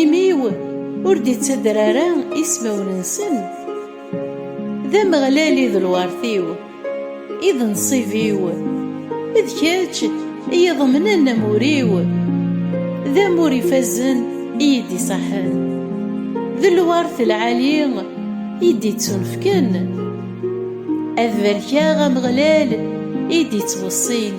Imi-w ur d-ittader ara ismawen-nsen, d Ameɣlal i d lwert-iw, i d nnṣib-iw, d kečč i iḍemnen amur-iw, d amur ifazen i yi-d-iṣaḥen, d lwert lɛali i d-ittunefken, ad barkeɣ Ameɣlal i d-ittweṣṣin.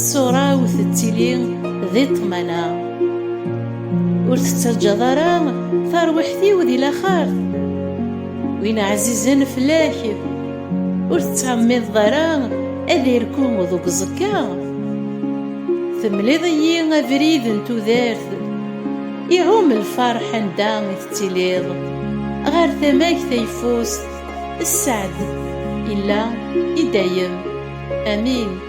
Ṣṣura-w tettili di ṭṭmana, ur tettaǧǧaḍ ara tarwiḥt-iw di laxert. Win ɛzizen fell-ak, ur tettɛemmideḍ ara ad irku deg uẓekka. Temliḍ-iyi abrid n tudert, iɛum lferḥ anda i tettiliḍ. Ɣer tama-k tayeffust, sseɛd illa i dayem. Amin.